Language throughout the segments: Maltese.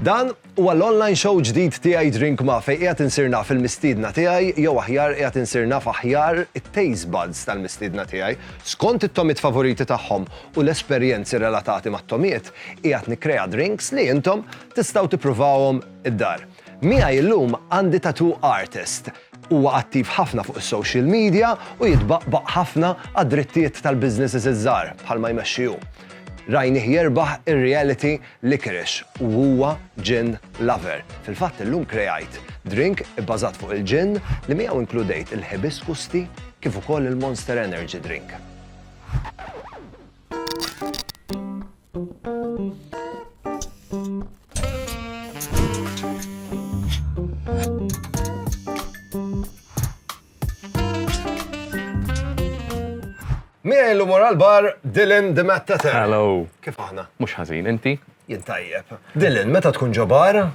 Dan huwa l-online show ġdid tiegħi Drink Ma fej qiegħed insir naf il-mistiedna tiegħi jew aħjar qiegħed insir naf aħjar it-taste buds tal-mistiedna tiegħi skont it-tomiet favoriti tagħhom u l-esperjenzi relatati mat-tomiet qiegħed nikkrea drinks li intom tistgħu tippruvawhom id-dar. Miegħi llum għandi tattoo artist. Huwa attiv ħafna fuq is-social media u jitbaqbaq ħafna għad-drittijiet tal-businesses iż-żgħar bħalma jmexxi hu. Rajnih jerbaħ ir-reality licorice u huwa gin lover. Fil-fatt illum kreajt drink ibbażat fuq il-gin li miegħu inkludejt il-hibiscus tea kif ukoll il-Monster Energy drink. Miegħi l-umor għal-bar Dylan the Matt Tata. Hello. Kif aħna? Mhux ħażin, inti? Jien tajjeb. Dylan, meta tkun ġo bar,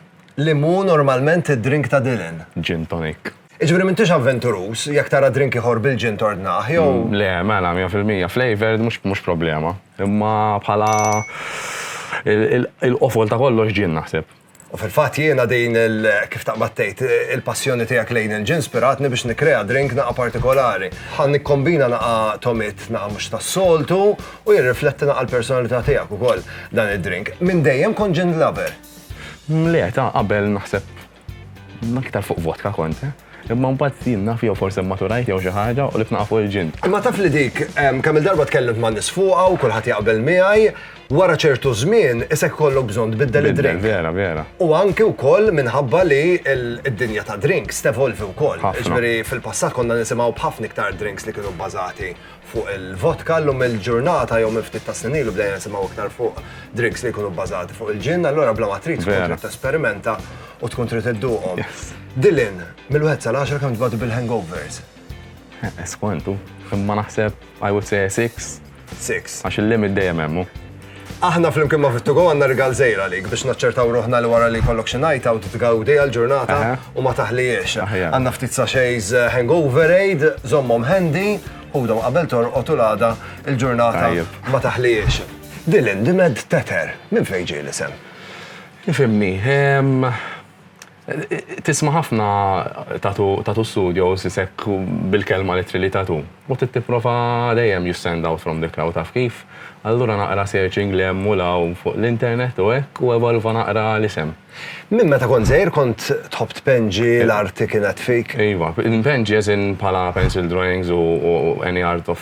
li mu normalment id-drink ta' Dylan? Gin tonic. Jiġifieri m'intix avventuruż jekk tara drink ieħor bil-gin tordnah, jew? Le, mela, mija fil-mija. Flavoured mhux problema. Imma bħala il-qofol ta' kollox gin, naħseb. U fil-fatt jiena din il-, kif taqbad tgħid, il-passjoni tiegħek lejn il-gin spiratni biex nikkrea drink naqa' partikolari. Ħa nikkombina naqa' togħmiet naqa' mhux tas-soltu u jirrifletti naqa' l-personalità tiegħek ukoll dan id-drink. Minn dejjem kont gin lover? Le, ta' qabel naħseb Jien aktar fuq vodka kont, eh? Imma mbagħad jien naf jew forsi mmaturajt jew xi ħaġa u li tnaqa' fuq il-ġin. Imma taf li dik kemm il-darba tkellimt ma' nies fuqha u kulħadd jaqbel miegħi, wara ċertu żmien isek ikollok bżonn tbiddel id-drink. Vera, vera. U anki wkoll minħabba li d-dinja tad-drinks tevolvi wkoll. Jiġifieri fil-passat konna nisimgħu b'ħafna iktar drinks li kienu bbażati fuq il-vodka llum il-ġurnata jew minn ftit ta' snin ilu bdejna nisimgħu iktar fuq drinks li jkunu bbażati fuq il-ġinn, allura bla ma trid tkun trid tesperimenta u tkun trid idduqhom. Dylan, mill-wieħed sal-għaxra kemm tbatu bil-hangovers? Skwantu, imma naħseb I would say a six. Six. Għax il-limit dejjem hemm hu. Aħna flimkien ma' Fit2Go għandna rigal żgħir għalik biex naċċertaw ruħna li wara li jkollok xi night out tgawdi għall-ġurnata u ma taħlihiex. Għandna ftit sachets eh, hangover aid, żommhom handy, ħudhom qabel torqod u l-għada il-ġurnata ma taħlihiex. Dylan, dimed teter, minn fejn ġej l-isem? Ifimni, ehm, Tisma' ħafna tatu studios isek bil-kelma literally tatu. U trid tipprova dejjem you stand out from the crowd taf kif? Allura naqra searching 'l hemm u 'l hawn fuq l-internet u hekk u evolva naqra l-isem. Minn meta kont żgħir kont tħobb tpenġi, l-arti kienet fik? Iva, npenġi as in bħala pencil drawings u any art of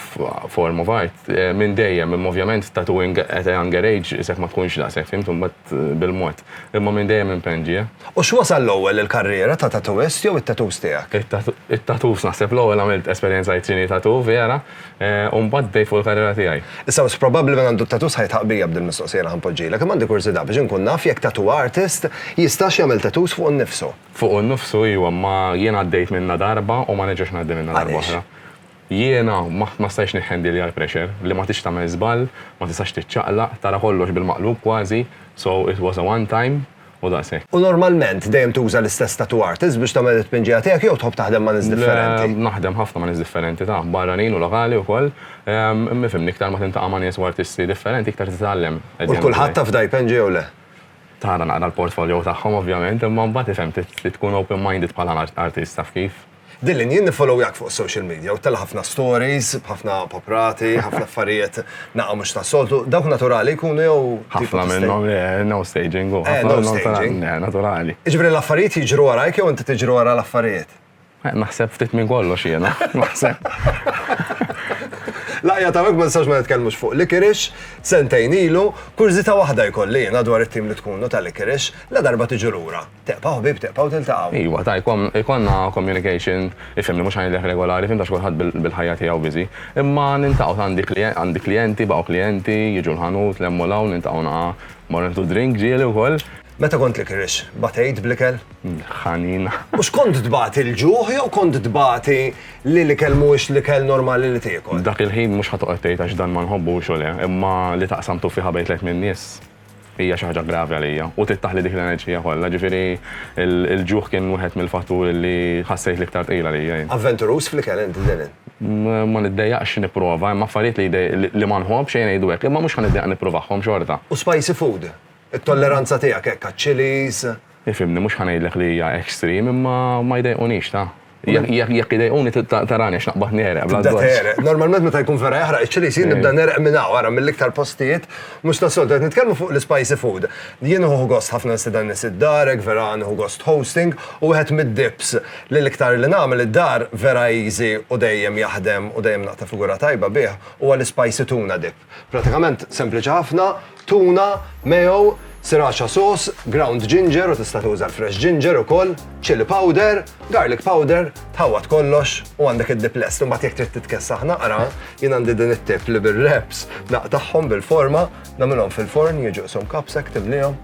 form of art minn dejjem, imma ovvjament tattooing at a younger age isek ma tkunx daqshekk fimt u mbagħad bil-mod. Imma minn dejjem impenn ġie. U x'wasal l-ewwel il-karriera ta' tattoist jew it-tattoos tiegħek? It-tattoos naħseb l-ewwel għamilt esperjenza li tini tattoo vera u mbagħad bdejt fuq il-karriera tiegħi. Issa wis probabbli min għandu t-tattoos ħa jitħaqq bija b'din mistoqsija li ħa npoġġilek, imma għandi kurżità biex inkun naf jekk tattoo artist jistax jagħmel tattoos fuqu nnifsu. Fuqu nnifsu iwa, imma jien għaddejt minnha darba u ma nerġax ngħaddi minnha darba oħra. Għaliex? Jiena ma ma stajtx nihhandilja l-pressure, li ma tridx tagħmel żball, ma tistax tiċċaqlaq, tara kollox bil-maqlub kważi, so it was a one time u daqshekk. U normalment dejjem tuża l-istess tattoo artist biex tagħmel it-tpinġija tiegħek jew tħobb taħdem ma' nies differenti? Le, naħdem ħafna ma' nies differenti, taf, barranin u lokali wkoll. Imma ifhimni, iktar ma tintaqa' ma' nies u artisti differenti, iktar titgħallem. U 'l kulħadd taf da jpenġi jew le? Tara naqra l-portfolio tagħhom ovvjament, imma mbagħad ifhem, trid tkun open minded bħala artist, taf kif. Dylan, jien nifollowyjak fuq social media u tella ħafna stories, b'ħafna poprati, ħafna affarijiet naqa mhux ta' soltu. Dawk naturali jkunu jew. Ħafna minnhom le, no staging u. Eh, no staging. Eh, naturali. Iġbri l-affarijiet jiġru warajk jew inti tiġru wara l-affarijiet? Eh, naħseb ftit minn kollox jiena, naħseb. Laqja ta' ma nistax ma nitkellmux fuq Likirix, sentejn ilu, kurżita waħda jkolli jiena dwar it-tim li tkunu ta' Likirix, la darba tiġu lura. Teqpaw ħbib, teqpaw tiltaqgħu. Iwa, ta' jkollna communication, ifhimni mhux ħanidlek regolari, fim ta' x'kulħadd bil-ħajja tiegħu busy. Imma niltaqgħu għandi klijenti, baqgħu klijenti, jiġu l-ħanut, nlemmu 'l hawn, niltaqgħu naqgħa, mmorru nieħdu drink ġieli wkoll. Meta kont l-ikrix, bagħtejt bl-ikel? Ħanin. U x'kont tbati l-ġuħ jew kont tbati li l-ikel mhuwiex l-ikel normali li tiekol? Dak il-ħin mhux ħa toqgħod tgħid għax dan ma nħobbux u le, imma li taqsam tuffiħa bejn tliet min-nies. Hija xi ħaġa gravi għalija u trid taħli dik l-enerġija kollha, ġifieri l-ġuħ kien wieħed mill-fatturi li ħassejt l-iktar tqil għalija jien. Avventuruż fl-ikel int, Dylan? Ma niddejjaqx nipprova, imma affarijiet li ma nħobbx, ejja ngħidu hekk, imma mhux ħa niddejjaq nippruvahom xorta. U spicy food? It-tolleranza tiegħek hekk għaċ-chillies? Ifhimni, mhux ħa ngħidlek li hija extreme, imma ma jdejqunix, ta. Jekk idejquni tarani x'naqbad nereq. Normalment meta jkun vera jaħraq iċ-ċili jsir nibda nereq minn hawn ara mill-iktar postijiet mhux tas-soltu qed nitkellmu fuq l-ispicy food. Jien uħu gost ħafna nsidan nies id-darek, vera nieħu gost hosting u wieħed mid-dips li l-iktar li nagħmel id-dar vera easy u dejjem jaħdem u dejjem naqta' figura tajba bih huwa l-ispicy tuna dip. Pratikament sempliċi ħafna, tuna, mayo, sriracha sauce, ground ginger u tista' tuża l-fresh ginger ukoll, chilli powder, garlic powder, tħawwad kollox u għandek id-dip lest. Imbagħad jekk trid titkessaħ naqra, jien għandi din it-tip li bir-wraps naqtagħhom bil-forma, nagħmilhom fil-forn, jiġu qishom cups hekk timlihom,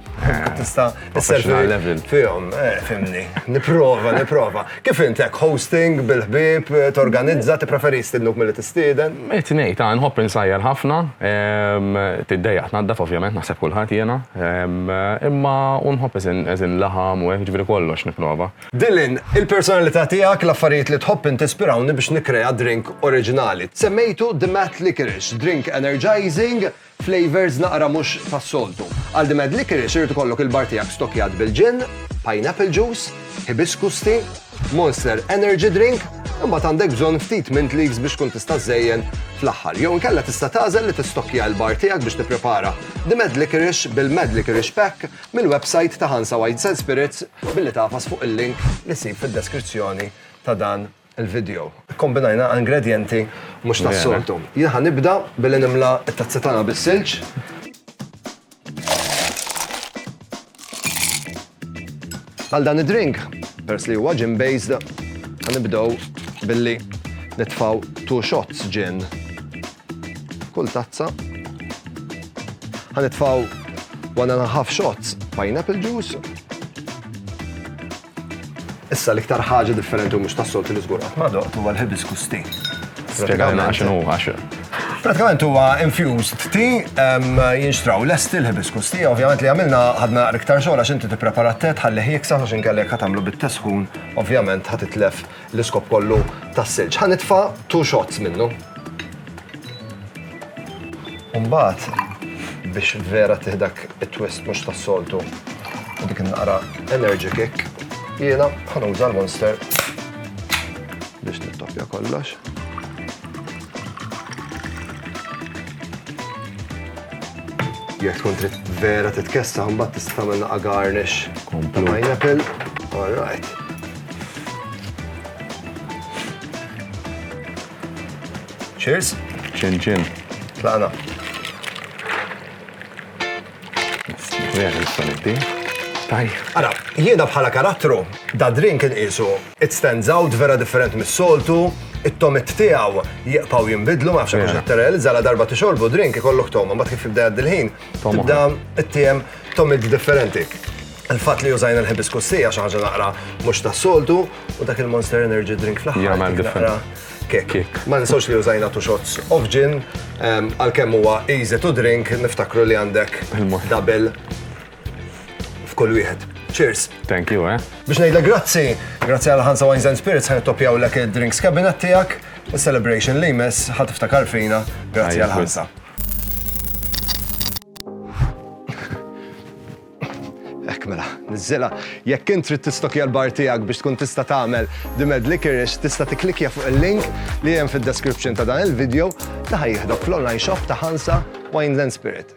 tista' professional level. Fihom, eh, fimni. Niprova, niprova. Kif intek hosting bil-ħbib, eh, torganizza, tippreferi stilluk mill-li tistieden? Qed ngħid, ah, nħobb insajjar ħafna, ehm, tiddejjaq tnaddaf ovvjament naħseb kulħadd jiena, ehm, imma u nħobb eżin laħam u hekk ġifieri kollox nipprova. Dylan, il-personalità tiegħek l-affarijiet li tħobb intispirawni biex nikrea drink oriġinali. Semmejtu The Matt Licorice, drink energizing, Flavours naqra mhux tas-soltu. Għal The Mad Liquorice irid ikollok il-bar tiegħek stokkjat bil-gin, pineapple juice, hibiscus tea, Monster Energy Drink, imbagħad għandek bżonn ftit mint leaves biex tkun tista' żżejjen fl-aħħar. Jew inkella tista' tagħżel li tistokkja l-bar tiegħek biex tipprepara The Mad Liquorice bil-Mad Liquorice Pack mill-websajt ta' Hansa Wines and Spirits billi tagħfas fuq il-link li ssib fid-deskrizzjoni ta' dan il-video. Ikkombinajna ingredjenti mhux tas-soltu. Jien ħa nibda billi nimla t-tazza tagħna bis-silġ. Għal dan id-drink, peress li huwa gin based, ħa nibdew billi nitfaw two shots gin. Kull tazza. Ħa nitfaw one and a half shots pineapple juice. Issa l-iktar ħaġa differenti u mhux tas-soltu li żgur qatt ma doqt huwa l-hibiscus tea. Spjegajna għax inhu għax. Pratikament huwa infused tea jinxtraw lesti l-hibiscus tea, ovvjament li għamilna ħadna iktar xogħol għax inti tipprepara t-tet ħalli ħieksa għax inkellek ħatamlu bit-tesħun, ovvjament ħatitlef L-iskop kollu tas-silġ. Ħa nitfa' two shots minnu. Umbat, biex vera tiħdak it-twist mhux tas-soltu u dik naqra energy kick, jiena ħanuża l-monster biex nittoppja kollox. Jekk tkun trid vera titkessa, mbagħad tista' tagħmel naqa' garnish. Komplu. Pineapple. All right. Cheers. Chin chin. Tlaqna. Vera nista' nibdi. Tajjeb. Ara, jiena bħala karattru, da drink inqisu it stands out vera differenti mis-soltu, it-tomiet tiegħu jibqgħu jinbidlu, ma nafx hekk hux qed tirrealizza la darba tixorbu drink ikollok togħma, mbagħad kif jibda jgħaddi l-ħin, Tibda t-tiem tomid differenti. Il-fat li użajna l-hibiscus tea xi ħaġa naqra mhux tas-soltu u dak il-Monster Energy drink fl-aħħar. Jagħmel differenti. Kik. Ma ninsawx li użajna tu shots of gin, ehm, għalkemm huwa easy to drink, niftakru li għandek double f'kull wieħed. Cheers. Thank you, eh. Biex ngħidlek grazzi, grazzi għal Hansa Wines and Spirits ħan toppjaw l drinks cabinet tiegħek. Is-celebration li jmiss ħa tiftakar fina grazzi għal ħansa. Ek mela, nizzila, jekk int trid tistokja l-bar tiegħek biex tkun tista' tagħmel dimed licorice, tista' tiklikja fuq il-link li hemm fid-description ta' dan il-video li ħajjihdok fl-online shop ta' Hansa Wineland Spirit.